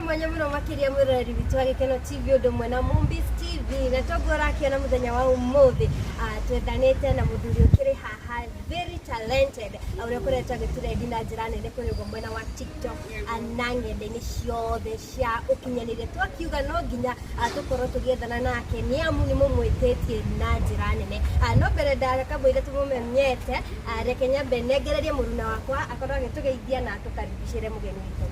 mwanya muno makiria mwiroreri witũ wa gikeno tv undu mwe na mumbis tv na toguo urakiona muthenya wa umuthi ah, twethanite na muthuri ukiri haha very talented ah, uria ukoretwo agiturendi na njira nene kuri uguo mwena wa tiktok ah, na ng'enda-ini ciothe cia ukinyaniria twakiuga no nginya ah, tukorwo tugiethana nake ni amu ni mumwititie na njira nene Ah, no mbere ndaga kamwire tumumenyete ah, reke nyambe nengererie muruna wakwa akorwo agitugeithia na tukaribicire mugeni witũ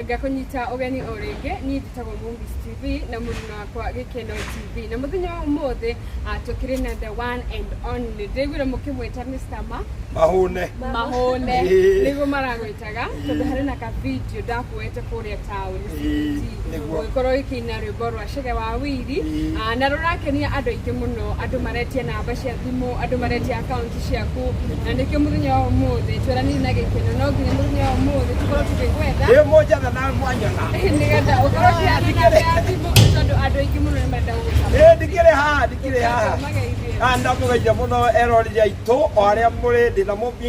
ngakũnyita ũgeni o rĩngĩ niĩ njĩtagwo Movies TV na mũruna wakwa Gĩkeno TV na mũthenya wa ũmũthĩ ah, tũkĩrĩ na the one and only ndĩguire mũkĩmwĩta Mr. Ma mahũne mahũne Ĩĩ. nĩguo maragwĩtaga tondũ harĩ na ka video ndakuĩte kũrĩa taũni Ĩĩ, nĩguo. ũgĩkorwo gĩkĩina rwĩmbo rwa Chege wa Wili ah, na rũrakenia andũ aingĩ mũno andũ maretia namba cia thimũ andũ maretia akaunti ciaku na nĩkĩo mũthenya wa ũmũthĩ tweranĩire na gĩkeno no nginya mũthenya wa ũmũthĩ tũkorwo tũkĩgwetha Ĩ moja na na mwanya na. nĩgetha ũkorwo ũkĩhanda namba ya thimũ tondũ andũ aingĩ mũno nĩ marenda gũgũtha Ĩ ndikĩrĩ haha ndikĩrĩ haha. Mageithie. Ah, ndamũgeithia mũno eroreri aitũ o arĩa mũrĩ ndĩ na mũmbi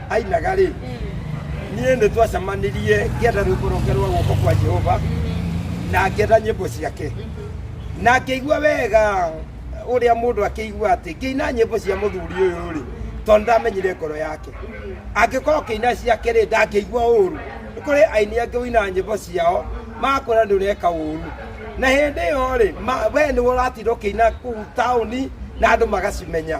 ainaga rĩ niĩ nĩ twacemanirie ngĩenda rwĩmbo rwake rwa guoko kwa jehova na ngĩenda nyĩmbo ciake na ngĩigua wega ũrĩa mũndũ akĩigua atĩ ngĩina nyĩmbo cia mũthuri ũyũ rĩ tondũ ndamenyire ngoro yake angĩkorwo kĩina ciake rĩ ndangĩigua ũru nĩ kũrĩ aini angĩ ũinaga nyĩmbo ciao makũra nĩ ũreka ũru na hĩndĩ ĩyo rĩ ma- we nĩ ũratinda ũkĩina kũu taũni na andũ magacimenya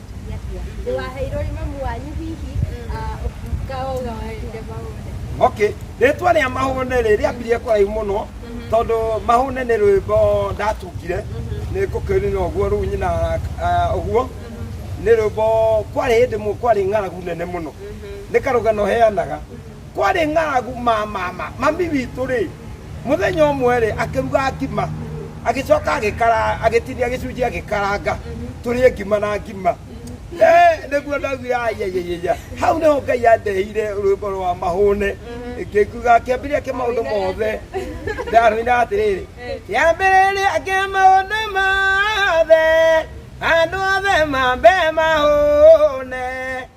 Atumia acio a hihi. Ndĩwaheirwo nĩ mamu wanyu hihi ah, ũkaoga wende maũne. okay rĩtwa rĩa mahũne rĩ rĩambirie kũraihu mũno tondũ mahũne nĩ rwĩmbo ndatungire nĩ ngũkĩrina ũguo rĩu nyina ah, ũguo nĩ rwĩmbo kwarĩ hĩndĩ mũ- kwarĩ ng'aragu nene mũno nĩ karũgano heanaga kwarĩ ng'aragu ma mama mami witũ rĩ mũthenya ũmwe rĩ akĩruga ngima agĩcoka agĩkara agĩtinia gĩcunjĩ agĩkaranga tũrĩe ngima na ngima Eh, nĩguo ndaugire ayayayaya hau nĩho ngai yandeheire rwĩmbo rwa mahũne ngĩkuga kĩambĩrĩria kĩa maũndũ mothe ndarũina atĩrĩrĩ kĩambĩrĩria kĩa maũndũ mothe andũ othe mambe mahũne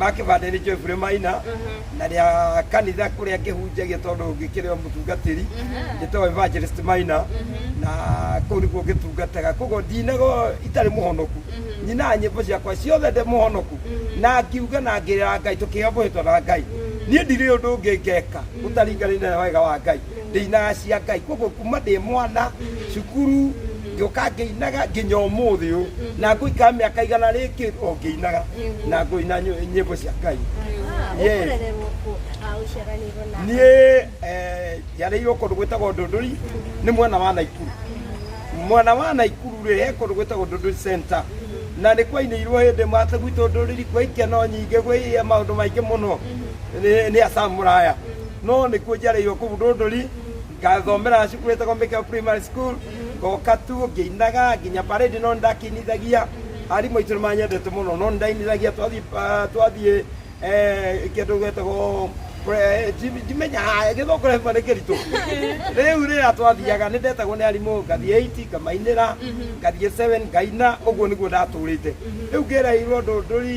makĩbandanĩtio ibure maina na rĩa kanitha kũrĩa ngĩhunjagia tondũ ngĩkĩrĩ o mũtungatĩri njĩtagwo evangelist maina na kũu nĩkuo ngĩtungataga koguo ndinago itarĩ mũhonoku nyinaga nyĩmbo ciakwa ciothe ndĩ mũhonoku na ngiuga na ngĩrĩra ngai tũkĩombũhĩtwo na ngai niĩ ndirĩ ũndũ ũngĩ ngeka ũtaringanĩte na wega wa ngai ndĩinaga cia ngai koguo kuma ndĩ mwana cukuru ngĩũka ngĩinaga nginya ũmũthĩ ũyũ na ngũikara mĩaka igana rĩngĩ o ngĩinaga na ngũina nyĩ- nyĩmbo cia ngai Yes. ũkũrererwo kũ Ah, ũciaranĩirwo na niä njarĩirwo kå ndå gwä tagwo ndå ndå ri nĩ mwena wa naikuru mwena wa naikuru rä he kå ndå gwä tagwo ndå ndå center na nä kwainä irwo hä ndä mate gwitå ndå rä ri kwä ikeno nyingä gwä maå ndå maingä må no nä acamu raya No nĩkuo njareirwo kũu Ndũndũri, ngathomera cukuru ĩtagwo Mĩkeo Primary School, ngoka tu ngĩinaga nginya parade no nĩndakĩinithagia. Arimũ aitũ nĩmanyendete mũno no nĩndainithagia twathiĩ ah, twathiĩ eh, kĩndũ getagwo pre- ndi- ndimenya ah, gĩthũngũ rĩmwe nĩ kĩritũ rĩu rĩrĩa twathiaga nĩndetagwo nĩ arimũ ngathiĩ 8 ngamainĩra ngathiĩ 7 ngaina ũguo nĩguo ndatũrĩte rĩu ngĩreirwo Ndũndũri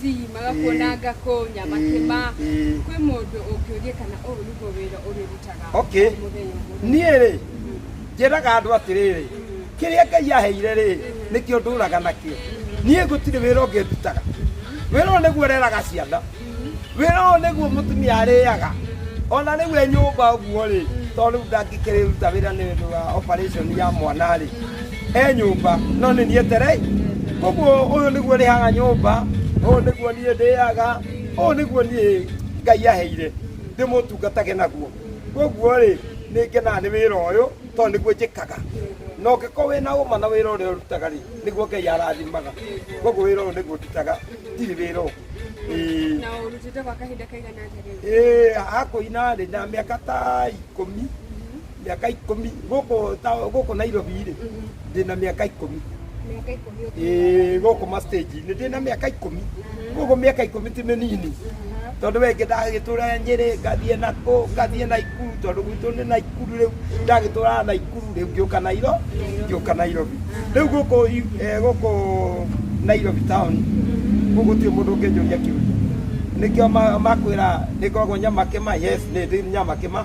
ti magakuonanga kũnya makĩma kwĩ mũndũ ũngĩũrie kana ũyũ nĩguo wĩra ũrĩrutaga okay niĩ rĩ njĩraga andũ atĩrĩrĩ kĩrĩa ngai aheire rĩ nĩkĩo ndũraga nakĩo niĩ gũtirĩ wĩra ũngĩ ndutaga wĩra ũyũ nĩguo reraga ciana wĩra ũyũ nĩguo mũtumia arĩaga ona rĩu e nyũmba ũguo rĩ tondũ rĩu ndangĩkĩrĩruta wĩra nĩ ũndũ wa operation ya mwana rĩ e nyũmba no nĩ niĩ terei koguo ũyũ nĩguo rĩhaga nyũmba ũyũ nĩguo niĩ ndĩaga ũyũ nĩguo niĩ ngai aheire ndĩmũtungatage naguo koguo rĩ nĩ ngenaga nĩ wĩra ũyũ tondũ nĩguo njĩkaga na ũngĩkorwo wĩ na ũma na wĩra ũrĩa ũrutaga rĩ nĩguo ngai arathimaga koguo wĩra ũyũ nĩguo ndutaga ndirĩ wĩra ũngĩ Ĩĩ. na ũrutĩte kwa kahinda kaigana atĩa rĩu Ĩĩ, hakũina rĩ na mĩaka ta ikũmi mĩaka ikũmi gũkũ ta- gũkũ nairobi rĩ ndĩna mĩaka ikũmi Mĩaka ikũmi ũkĩrĩ. Ĩĩ, gũkũ mastage-inĩ ndĩna mĩaka ikũmi gũkũ mĩaka ikũmi ti mĩnini tondũ wengĩ ndagĩtũra nyĩrĩ ngathiĩ nakũ ngathiĩ naikuru tondũ gwitũ nĩ naikuru rĩu ndagĩtũraga naikuru rĩu ngĩũka nairo ngĩũka nairobi rĩu gũkũ i- eh, gũkũ nairobi town gũkũ ti mũndũ ũngĩnjũria kĩũria nĩkĩo ma- makwĩra nĩkoragwo nyamakema yes nĩ ndĩ nyamakema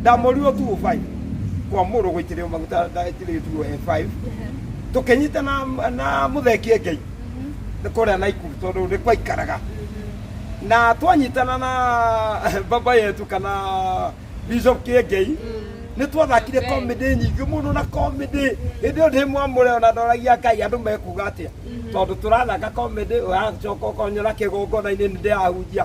Ndamũrirwo 205 kwa mũrũ gũitĩrĩrio maguta ndaitĩrĩrio 205 tũkĩnyita na, na mũthekie ngei nĩ kũrĩa naikuru tondũ nĩ kwaikaraga na twanyitana na baba yetu kana bishop kĩengei nĩ twathakire comedy nyingĩ mũno na comedy hĩndĩ ĩyo ndĩ mwamũre ona ndoragia ngai andũ mekuga atĩa tondũ tũrathaka comedy ũracoka ũkonyona kĩgongona-inĩ nĩ ndĩrahunjia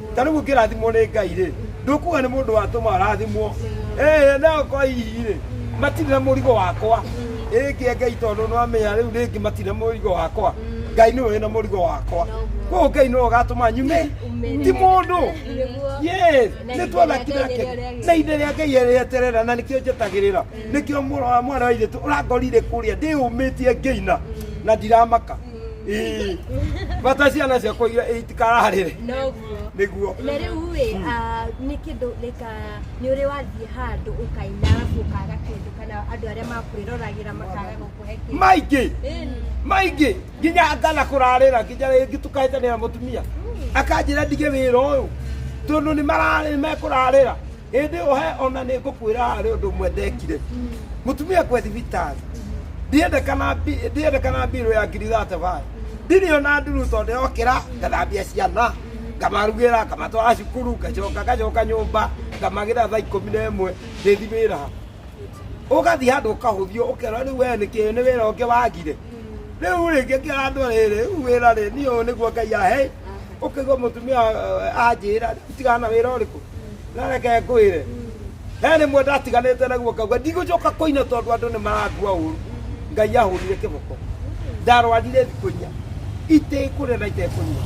Ta rĩu ũngĩrathimwo nĩ Ngai-rĩ, ndũkuga nĩ mũndũ watũma ũrathimwo. Ĩĩ, nao kwa hihi-rĩ, matirĩ na mũrigo wakwa. Ĩngĩ e Ngai tondũ nĩwamenya rĩu rĩngĩ matirĩ na mũrigo wakwa. Ngai nĩwe wĩna mũrigo wakwa. Koguo Ngai nĩwe ũgatũma nyume, ti mũndũ. Yes, nĩtwathaki nake. Na ihinda rĩa Ngai rĩeterera na nĩkĩo njetagĩrĩra. Nĩkĩo mũrũ wa mwarĩ wa Ithe witũ ũrangorire kũrĩa ndĩyũmĩtie ngĩina na ndiramaka. Ii. bata ciana ciakwa iria itikararĩre noguo nĩguo na rĩu rĩ ah, nĩ kĩndũ rĩka nĩ ũrĩ wathiĩ handũ ũkaina arabu ũkaga kĩndũ kana andũ arĩa makwĩroragĩra makaga gũkũhe kĩndũ maingĩ Ĩĩ. maingĩ nginya ngana kũrarĩra nginya rĩngĩ tukaĩtanĩra mũtumia akanjĩra ndige wĩra ũyũ tondũ nĩ mararĩ mekũrarĩra ĩndĩ ũhe ona nĩ ngũkwĩra harĩ ũndũ ũmwe ndekire mũtumia kwe thibitarĩ ndiendekana bi- ndiendekana mbirũ ya ngiri thate bayo ndirĩ ona nduru tondũ yokĩra ngathambia ciana ngamarugĩra ngamatwara cukuru ngacoka ngacoka nyũmba ngamagĩra thaa ikũmi na ĩmwe ndĩthi wĩra ũgathiĩ handũ ũkahũthio ũkerwo rĩu wee nĩkĩ nĩ wĩra ũngĩ wagire rĩu rĩngĩ ngĩra andũ rĩrĩ rĩu wĩra rĩ niĩ ũyũ nĩguo ngai ahe ũkaigua mũtumia eh, anjĩra tigana na wĩra ũrĩkũ na reke ngwĩre he rĩmwe ndatiganĩte naguo ngauga ndigũcoka kũina tondũ andũ nĩ marangua ũru ngai ahũrire kĩboko ndarwarire thikũ inya itekũrĩa na itekũnyua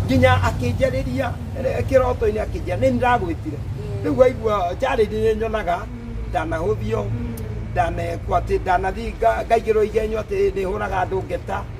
nginya akĩnjarĩria eh, kĩroto-inĩ akĩnjia nĩ ndagwĩtire rĩu waigua njarĩri nĩ nyonaga ndanahũthio ndanekwo atĩ ndanathiĩ nga- ngaigĩrwo igenyo atĩ nĩ hũraga andũ ngeta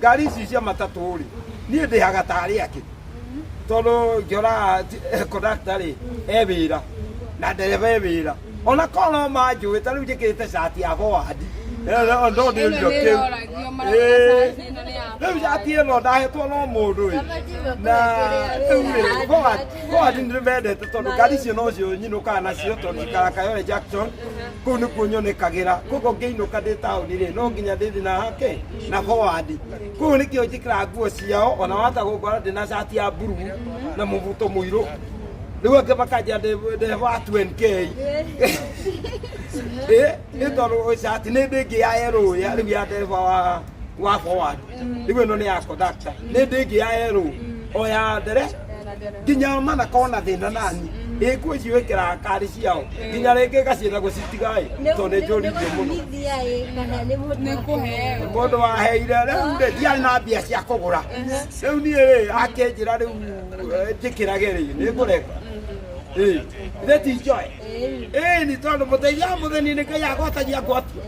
ngari ici cia matatũ rĩ niĩ ndĩhaga tarĩ akĩ tondũ ngĩona kondakta rĩ e wĩra na ndereba e wĩra ona korwo no manjũĩ ta rĩu njĩkĩrĩte cati ya bowandi no ndĩ ũrio kĩu rĩu cati ĩno ndahetwo no mũndũ ĩ na rĩu rĩ bowandi nĩ mendete tondũ ngari icio no cio nyinũkaga nacio tondũ ikaraga Kayole Junction kũu nĩkuo nyonekagĩra koguo ngĩinũka ndĩ taũni rĩ no nginya ndĩthi na hake na howandi kũu nĩkĩo njĩkĩra nguo ciao ona wata gũkora ndĩ na cati ya mburu na mũbuto mũirũ rĩu angĩ makanjia ndĩ wa 20k ĩ nĩ tondũ cati nĩ ndĩ ngĩ ya yerũ ya rĩu ya ndereba wa wa howandi igwe no ni ya conductor ni ndingi ya yero o ya ndere nginya mana kona thina nani ikwe ciwikira kari ciao nginya ringi gacienda gucitigae to ni njurithio muno mundu waheire riu ri ndiarĩ na mbia cia kũgũra rĩu niĩ rĩ akĩnjĩra rĩu njĩkĩrage rĩ nĩ ngũreka rĩti njoe Eh, ni tondu muteithia wa muthini ni kai agwatagia ngwatu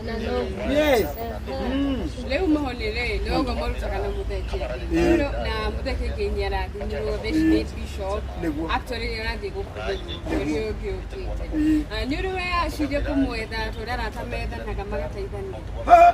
yes Mm. rĩu mahoni rĩ nĩogo marutaga na mũtheke Rĩu na mũtheke nginya arathimĩrwo theci nĩ bishop Nĩguo. actually nĩ arathiĩ gũkuthĩrwo mweri ũyũ ũngĩ ũkĩte Na nĩ ũrĩ weyaciria kũmwetha tondũ arata methanaga magateithania Ha!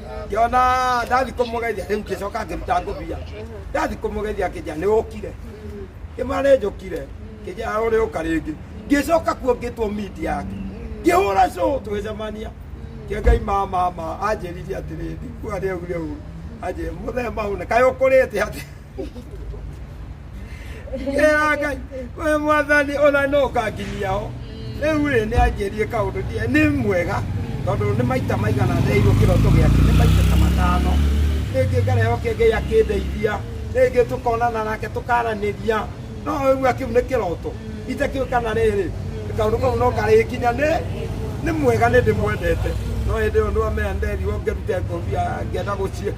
ngĩona ndathi kũmũgeithia rĩu ngĩcoka ngĩruta ngũbia ndathi kũmũgeithia kĩnjĩra nĩ ũkire kĩmara nĩ njũkire kĩnjĩra ũrĩ ũka rĩngĩ ngĩcoka kuo ngĩtwo mindi yake ngĩhũra cũ tũgĩcemania kĩengai mama ma anjĩririe atĩrĩ ndikuga rĩu rĩu anjĩrĩ mũthee maune kaĩ ũkũrĩte atĩ Ngai, we mwathani ona no kanginyia ho rĩu rĩ nĩ anjĩrie kaũndũ ndiĩ nĩ mwega tondũ nĩ maita maigana ndeirwo kĩroto gĩake nĩ maita ta matano rĩngĩ ngareho kĩngĩ akĩndeithia rĩngĩ tũkonana nake tũkaranĩria no ũigua kĩu nĩ kĩroto itakĩũĩ kana rĩrĩ kaũndũ kau no karĩkinya nĩ nĩ mwega nĩ ndĩmwendete no hĩndĩ ĩyo nĩwamenya nderirwo ngĩrute ngobia ngĩenda gũciĩ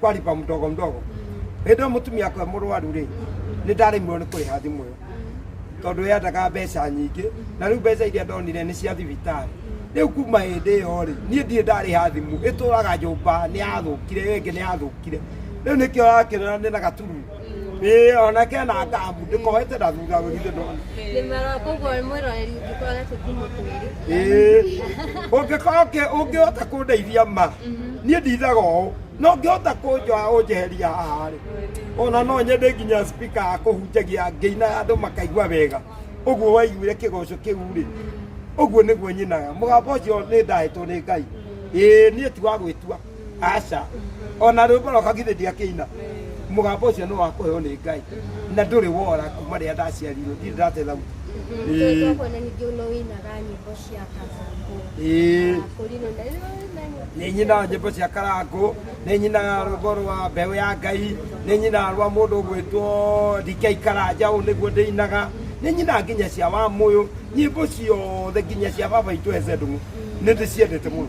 kwaripa mdogo mdogo hĩndĩ ĩyo mũtumia akwa mũrwaru rĩ nĩ ndaremirwo nĩ kũrĩha thimũ ĩyo tondũ yendaga mbeca nyingĩ na rĩu mbeca iria ndonire nĩ cia thibitarĩ rĩu kuma hĩndĩ ĩyo rĩ niĩ ndirĩ ndarĩha thimũ ĩtũraga nyũmba nĩ yathũkire ĩyo ĩngĩ nĩ yathũkire rĩu nĩkĩo ũrakĩona nĩ na gatururu ä ona ke na tabu ndä kohete na thutha wä githä ndona Ndĩmara koguo mwĩroreri ũngĩkorwo nĩ tũtimũ twĩrĩ. ũngĩkoke ũngĩhota kũndeithia ma niĩ ndithaga ũũ no ngĩhota kũnjoa ũnjeheria haharĩ ona no nyende nginya spika akũhunjagia ngĩina andũ makaigua wega ũguo waiguire kĩgoco kĩu rĩ ũguo nĩguo nyinaga mũgambo ũcio nĩ ndahetwo nĩ ngai ĩĩ niĩ ti wa gwĩtua aca ona rwĩmbo rwakwa githĩ ndiakĩina mũgambo ũcio nĩ wa kũheo nĩ ngai na ndũrĩ wora kuma rĩrĩa ndaciarirwo ndirĩ ndate thauti Ĩĩ. Kuona ningĩ no wĩinaga nyĩmbo cia kabango. Ĩĩ. Ah, Kũrinũ na rĩu na nyĩmbo. nä nyinaga nyä mbo cia karangå nä nyinaga rwimbo rwa mbeå ya ngai nä nyinaga rwa må ndå å gwä two ndikei karanja å nä guo ndä inaga nä nyinaga nginya cia wa må yå nyä mbo ciothe nginya cia baba itå hece ndå nä ndä ciendete må no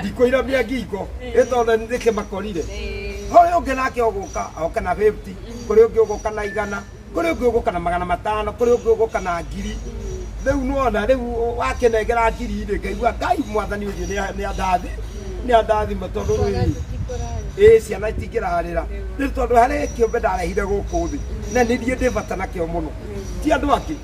ndikũira mĩa ngingo ĩ tondũ nĩ kĩ makorire harĩ ũngĩ nake ũgũka oke na 50 kũrĩ ũngĩ ũgũka na igana kũrĩ ũngĩ ũgũka na magana matano kũrĩ ũngĩ ũgũka na ngiri rĩu nona rĩu wakĩnengera ngiri rĩ ngaigua ngai mwathani ũthiĩ nĩ- nĩ andathi nĩ andathima tondũ rĩu ĩ ciana itingĩrarĩra nĩ tondũ harĩ kĩũmbe ndarehire gũkũ thĩ na nĩ niĩ ndĩ bata nakĩo mũno ti andũ angĩ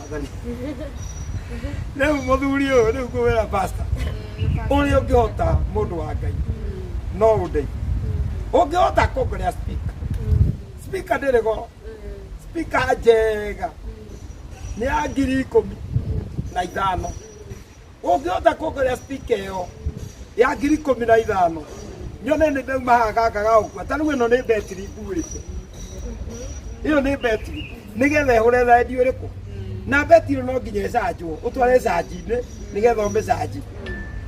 Mwathani. rĩu mũthuri ũyũ rĩu ngũwĩra pasta ũrĩa ũngĩhota mũndũ wa ngai no ũndeithie ũngĩhota kuongerea speaker speaker ndĩrĩ goro speaker njega nĩ ya ngiri ikũmi na ithano ũngĩhota kuongerea spika ĩyo ya ngiri ikũmi na ithano nyone nĩ ndauma haha gaka gagũkua ta rĩu ĩno nĩ betiri nguĩte ĩyo nĩ betiri nĩgetha ĩhũre rendi ũrĩkũ na betiri no nginya ĩcanjwo ũtware canji-inĩ nĩgetha ũmĩcanji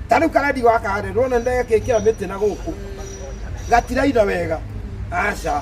ta rĩu karendi gaka rĩ rwona nĩ ndegekĩkĩra mĩtĩ na gũkũ gatiraina wega aca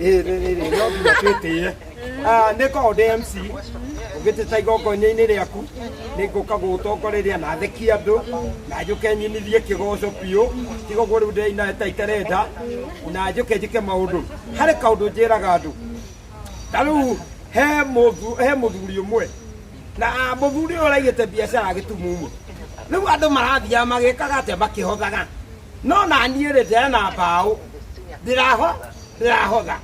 ĩ rĩ rĩ rĩ no nginya twĩtĩe Ah, nĩ ngoragwo ndĩ mc ũngĩtĩta igongona-inĩ rĩaku nĩ ngũka gũgũtongoreria na thekie andũ na njũke nyinithie kĩgoco biũ tiga ũguo rĩu ndĩraina ta itarenda na njũke njĩke maũndũ harĩ kaũndũ njĩraga andũ ta rĩu he mũthu- he mũthuri ũmwe na muthuri uyu uraigite biacara gitumumu riu andu marathiaga magikaga atia makihothaga no nanie ri ndirena mbao ndiraho ndirahotha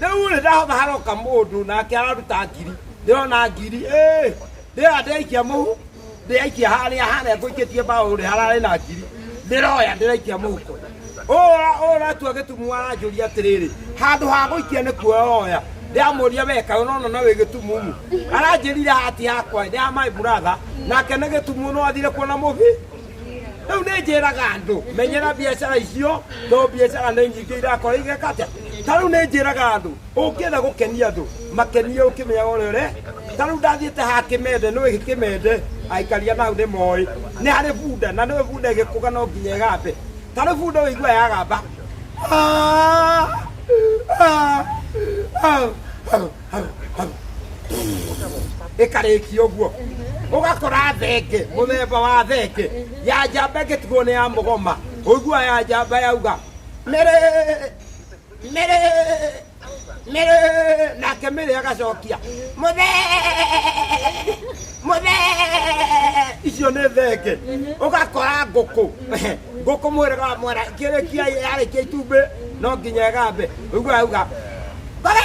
riu ri ndahotha haroka mundu nake araruta ngiri ndirona ngiri eh, ndira ndirikia muhu ndirikia haria haria nguikitie mbao ri harari na ngiri ndiroya ndirikia muhuko ũratua gĩtumu aranjũria atĩrĩrĩ handũ ha gũikia nĩ kuoyoya ndamũria weka ũnona na wĩ gĩtumumu aranjĩrire hati yakwa ya my brother nake nĩ gĩtumu no athire kuona mũbi rĩu nĩ njĩraga andũ menyera biacara icio tondũ biacara nĩ nyingĩ irakora igeka atĩa ta rĩu nĩ njĩraga andũ ũngĩenda gũkenia andũ makenie ũkĩmenyaga ũrĩa ũre ta rĩu ndathiĩte ha kĩmende nĩwe gĩ kĩmende aikaria nau nĩ moĩ nĩ harĩ bunda na nĩwe bunda ĩgĩkũga no nginya ĩgambe ta rĩu bunda ũigua yagamba Ah! Ah! Ah! Ah! Ah! Ah! ĩkarĩkia ũguo ũgakora thenge mũthemba wa thenge ya njamba ĩngĩtigwo nĩ ya mũgoma ũigua ya njamba yauga mĩrĩ mĩrĩ mĩrĩ nake mĩrĩ agacokia mũthe mũthe icio nĩ thenge ũgakora ngũkũ ngũkũ mwĩrĩga wa mwana kĩrĩkia yarĩkia itumbĩ no nginya ĩgambe ũguo auga ngore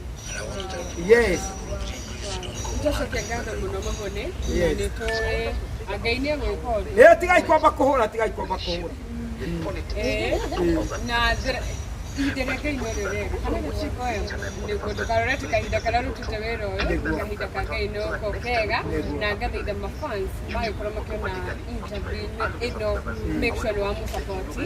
yes Nĩtũcokengatho mũno mahone na Yes. nĩtũĩ na Ngai nĩegwĩka ũndũ ĩyo tigai kwamba kũhũra tigai kwamba kũhũra Eh, na thra- ihinda rĩa Ngai no rĩrega kana gũciko nĩguo ndũkarorete kahinda karĩa rũtĩte wĩra ũyũ kahinda ka Ngai no ko kega na ngathaitha mafans magĩkorwo makĩona interview ĩno make sure nĩ wamũsapoti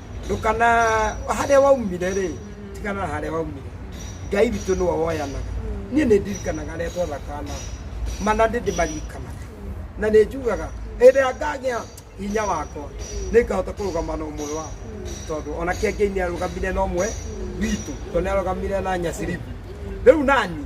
ndũkana harĩa waumire rĩ tigana na harĩa waumire ngai witũ nĩwe woyanaga niĩ nĩ ndirikanaga rĩa twathakana mana ndĩ ndĩmaririkanaga na nĩ njugaga hĩndĩ ĩrĩa ngagĩa hinya wakwa nĩ ngahota kũrũgama na ũmwe wao tondũ ona kĩangĩ nĩ arũgamire na ũmwe witũ tondũ nĩ arũgamire na nyaciribu rĩu nani